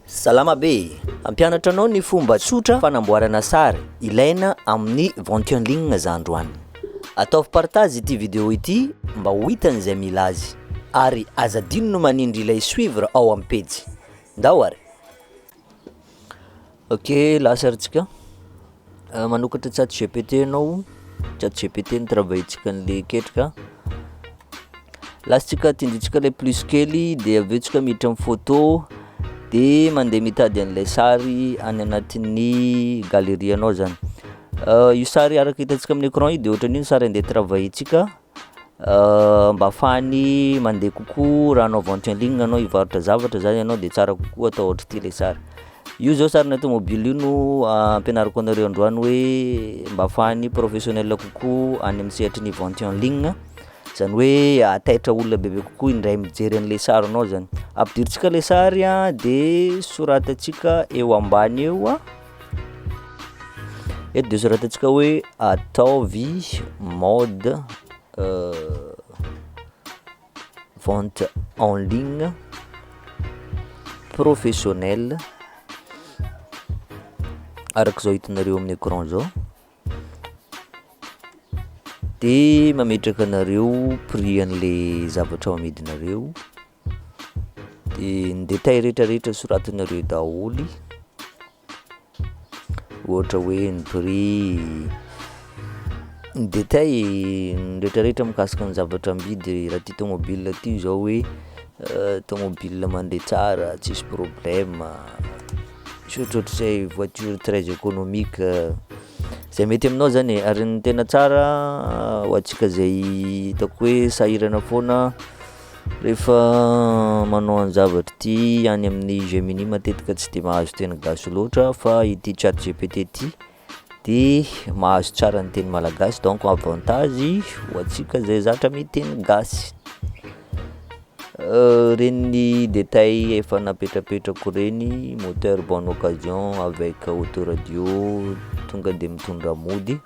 Salama be! Hampianatra anao ny fomba tsotra fanamboarana sary ilaina amin'ny ventionling za androany. Ataovy partage ity video ity mba ho hitan'ny zay mila azy. Ary aza adino ny manindry ilay suivre ao amin'ny pejy. Ndao ary! Ok lahasarintsika manokatra chat gpt anao chat gpt ny travail-tsika anle ketrika latsika tindritsika le plus kely de avy eo tsika miditra amin'ny photo de mandeha mitady an'ilay sary any anatin'ny galerie anao zany io sary araka hitantsika amin'ny écran io de ohatran'io ny sary andeha travail-tsika Mba afahany mandeha kokoa raha hanao vente en ligne anao hivarotra zavatra zany ianao de tsara kokoa atao ohatr'ity le sary, io zao sarinà tômôbily io no ampianariko anareo androany hoe mba afahan'ny professionnel kokoa any amin'ny sehatry ny vente en ligne zany hoe ahataitra olona bebe kokoa indray mijery an'le sarinao zany, ampidirintsika le sary a de soratantsika eo ambany eo a. Eto dia soratantsika hoe ataovy mode euh, vente en ligne professionnel araka izao hitanareo amin'ny écran zao de mametraka anareo prix an'le zavatra ao amidinareo Dia ny détail rehetra rehetra soratinareo daholo, ohatra hoe ny prix, ny détail rehetra rehetra mikasika ny zavatra amidy raha ty tomobile ty zao hoe tomobile mandeha tsara tsisy problème, tsy ohatrohatrizay voiture très économique, zay mety aminao zany e, ary ny tena tsara ho antsika zay hitako hoe sahirana foana. Rehefa manao an-javatra ity any amin'ny Gemini matetika tsy dia mahazo teny gasy loatra fa ity chat GPT ity de mahazo tsara ny teny malagasy donc avantage ho antsika zay zatra miteny gasy euh, reniny détail efa napetrapetrako reny moteur bonne occasion avec autoradio tonga de mitondra mody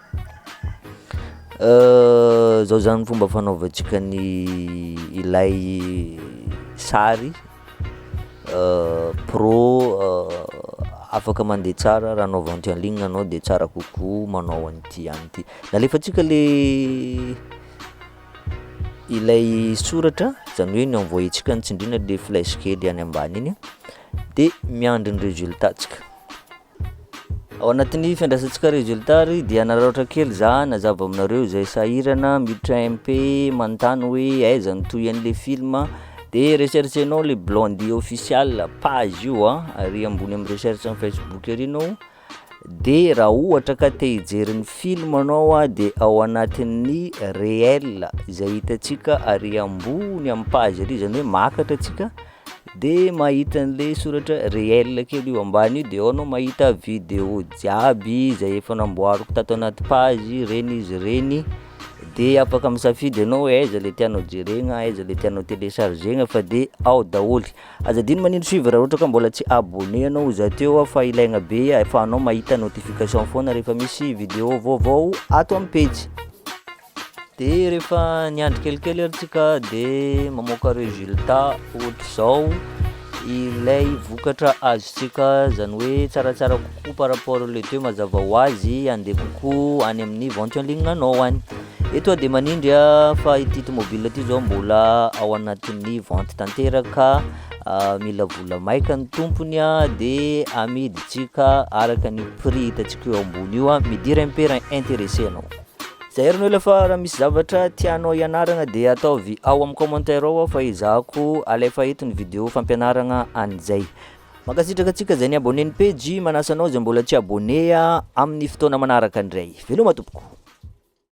Zao zany ny fomba fanaovantsika ny ilay sary pro afaka mandeha tsara raha anaovantsika en ligne anao de tsara kokoa manao an'ity ihany ity, nalefatsika le ilay soratra zany hoe ny envoyer-tsika ny tsindriana le flèche kely any ambany iny de miandry ny résultat-tsika. Ao anatin'ny fiandrasantsika resultat ary dia nararaotra kely za nazava aminareo izay sahirana miditra MP manontany hoe aiza no toy an'le film de recherchenao le Blondie official page io a ary ambony amin'ny recherche amin'ny Facebook ery anao de raha ohatra ka te hijery ny film anao a de ao anatin'ny réel izay hitantsika ary ambony amin'ny page ery izany hoe makatra antsika de mahita an'le soratra réel kely io ambany io de ao anao mahita video jiaby zay efa namboariko tato anaty page reny izy ireny, de afaka misafidy ianao hoe aiza le tianao jerena, aiza le tianao telechargena fa de ao daholo, aza adino manindry suivre raha ohatra ka mbola tsy abonné anao ho za teo aho fa ilaigna be ahafahanao mahita notification foana rehefa misy video vaovao ato amin'ny pejy. De rehefa niandry kelikely ary tsika de mamoaka resultat ohatr'izao ilay vokatra azontsika, zany hoe tsaratsara kokoa par rapport les deux mazava ho azy andeha kokoa any amin'ny vente en ligne anao any. Eto aho de manindry a fa ity tomobile ity zao mbola ao anatin'ny vente tanteraka, mila vola maika ny tompony a de amidintsika araka ny prix hitantsika eo ambony io a, me dire un peu raha intéressé ianao. Zahay ry Noela fa raha misy zavatra tianao hianaragna dia ataovy ao amin'ny commentaire ao aho fa ezahako alefa eto ny vidéo fampianaragna an'izay. Mankasitraka antsika izay ni-abonné ny pejy, manasa anao izay mbola tsy abonné amin'ny fotoana manaraka indray. Veloma tompoko.